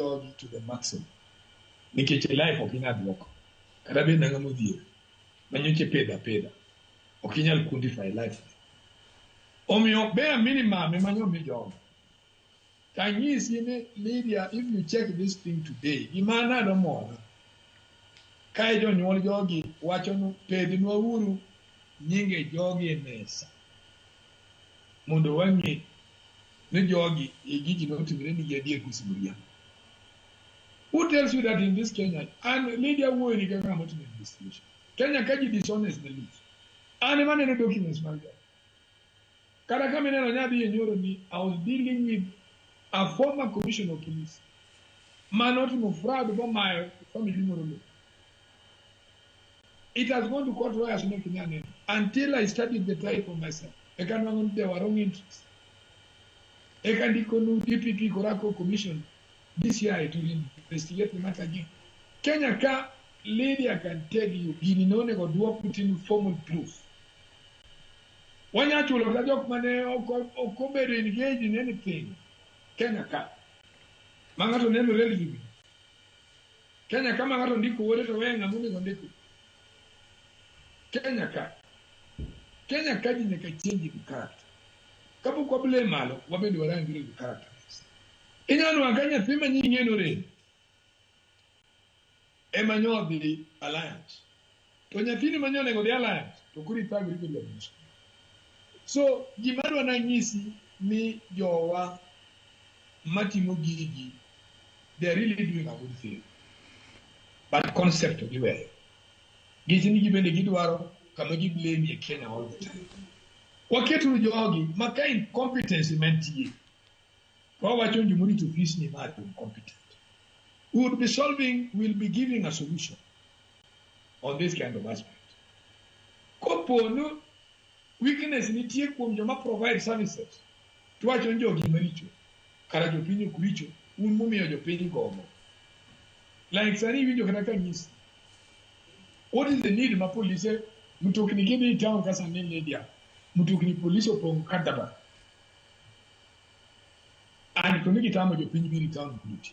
God to the maximum. Nikech e life ok inyal duoko. Kata bed nang'ama odhier. Manyoche peda peda. Ok inyal quantify life. Omiyo ber minimum ema nyo mi jogo. Tanyisi ni Lydia, if you check this thing today, gima nado mona. Kae jonyuol jogi wachonu pednwa uru nyinge jogi e mesa. mondo wang'e ni jogi e gigi notimre nigi adier koso miriambo. Who tells you that in this Kenya, and media wuoyo ni kaka motimo investigation. Kenya ka ji dishonest the least. An ema neno documents mag jogi. Kata kama ineno nyadhi e nyoro ni I was dealing with a former commissioner of police ma notimo fraud bomayo family moro lowo. It has gone to court lawyers no kinya neno until I studied the trial for myself. Eka nwango ni there were wrong entries. Eka ndiko nu DPP korako commission DCI to investigate the matter again. Kenya ka Lydia can tell you gini ne onego duok within formal proof. Wanya chulo ka jok mane ok obedo engaged in anything. Kenya ka. Ma ng'ato neno relevant. Kenya ka ma ng'ato ndiko wuode to weye ng'ama onego ndiko. Kenya ka. Kenya ka ji nyaka change in character. Kapok wabile malo, wabende warangire gi character. Inyalo nwang'o ka nyathi ma nyinge norem ema nyo odhi alliance. to nyathini ma nyonego dhi alliance to koro ithagori kod jabuso so gima adwa nanyisi ni jowa matimo gigi they are really doing a good thing but concept to giweyo giti ni gibende gidwaro kama giblame e kenya all the time waketuru jogi ma ka incompetency mantie to wawacho ni jomorito ofis ni ma incompetent we would be solving will be giving a solution on this kind of aspect. Kopo ni weakness nitie kuom joma provide services, to wacho ni jogi maricho, kara jopiny ok richo, un mumiyo jopiny gomo. Like sani iwinjo kata ka nyisi, what is the need ma polise mtokni kidhi e town ka sani media, mtokni polise opong' kadaba. And to ni gitamo jopiny biro e town kuduti.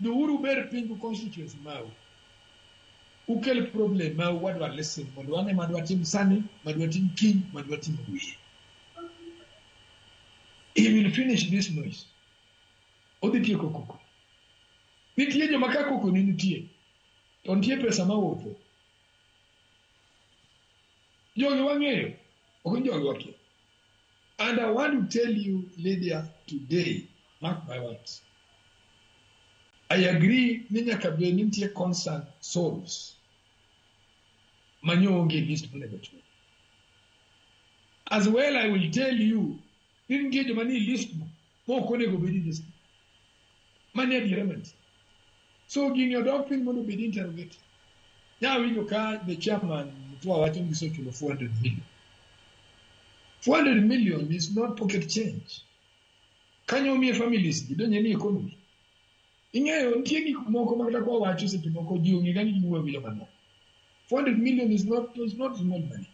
Dhiuru uber piny gi constituency mau. Ukel problem mau wadwa listen mondo wane ma dwatim sani, ma dwatim kiny, ma dwatim wiye. He will finish this noise. Odhi tieko koko. Nitie joma ka koko ne nitie, to nitie pesa ma wuotho. Jogi wang'eyo, ok ni jogi wakia. And I want to tell you, Lydia, today, mark my words. I agree ni nyaka bed ni nitie concern souls manyo onge list monego chwe. As well, I will tell you, ni nitie joma ni list mo Ok onego obed indiscipline. Mano e adiera mantie. So gini odok piny mondo obed interrogated. Nawinjo ka the chairman Mtua wacho ni gisechulo 400 million. 400 million is not pocket change. Kanyo omiye families gi donje ni economy. Ing'eyo nitie gik moko ma kata kwa wacho seche moko ji ong'e ga ni giwuoyo gi joma moko. 400 million is not, is not small money.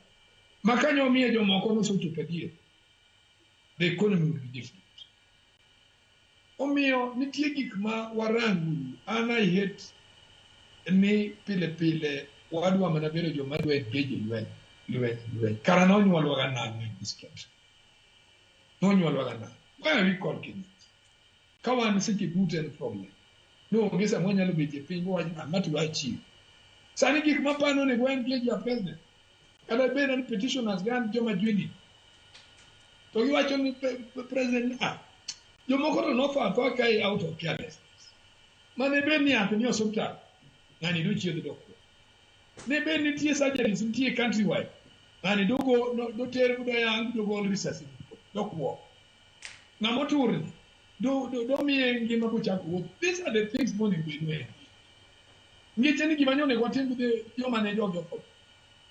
Ma kanyo omiye jomoko nosechopo adier. the economy will be different. Omiyo nitie gik ma warango an I hate ni pile pile wadwa mana bedo joma dwa engage lweny lweny lweny kara nonyuolwa ga nang'o in this country nonyuolwa ga nang'o why are we called Kenyans Ka wan seche duto en problem. Ni onge sama wanyalo betie piny wawach ni ng'at dwa chiwo. Sani gik mapano onego en gi ja president. Kata bed ni petitioners gan joma jwini. To giwacho ni president ni ah jomoko to notho atho ka e out of carelessness. Mane bed ni yath ni osiptal ng'ani dochiedh dokwo. Ne bed nitie surgeries nitie countrywide ng'ani dogo doter doyang dogol risasi dokwo. Ng'ama otur ni do do do miye ngima kochako wuoth. These are the things monego bed ni ngeche ni gima nyonego watim gi joma ne jogi otho.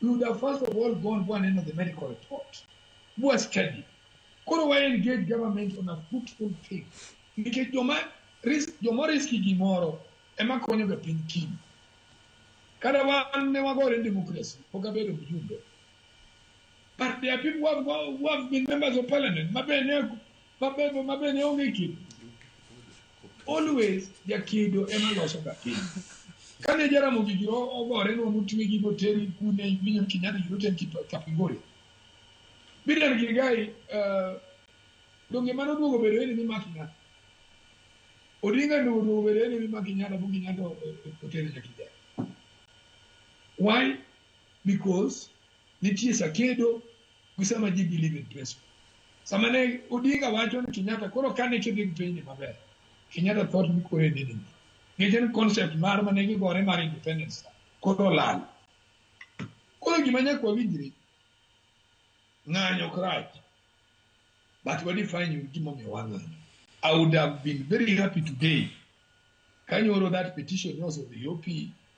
We would have first of all gone go and the medical report. Go study. Koro wa engage government on a fruitful thing. Nikech joma risk joma riski gimoro ema konyo ga piny kiny. Kada wan ne wagore demokrasi, pok abedo mjumbe. But there are people who have, who have been members of parliament. Mabene, mabene, mabene onge kido. Always jakido ema loso ga kido. Kane Jaramogi gi ogore no mutwe gi moteri kune William Kenyatta gi roten Kapingori. Bidan Gilgai, uh, donge mano duogo bedo ni mima Kenyatta. Odinga no duogo bedo ni mima Kenyatta bu Kenyatta oteri nyakija. Why? Because Nitie sakedo gi sama ji believe in principle. Sama ne Odinga wacho ni Kenyatta koro kane kidhi gi piny ni maber. Kenyatta thought ni koro en nini. Gigen concept mar mane gigore mar independence koro lal. Koro gima nyaka wawinjre ng'anyo ok rach but we define you gima omiyo wang'anyo. I would have been very happy today kanyoro that petition was of the OP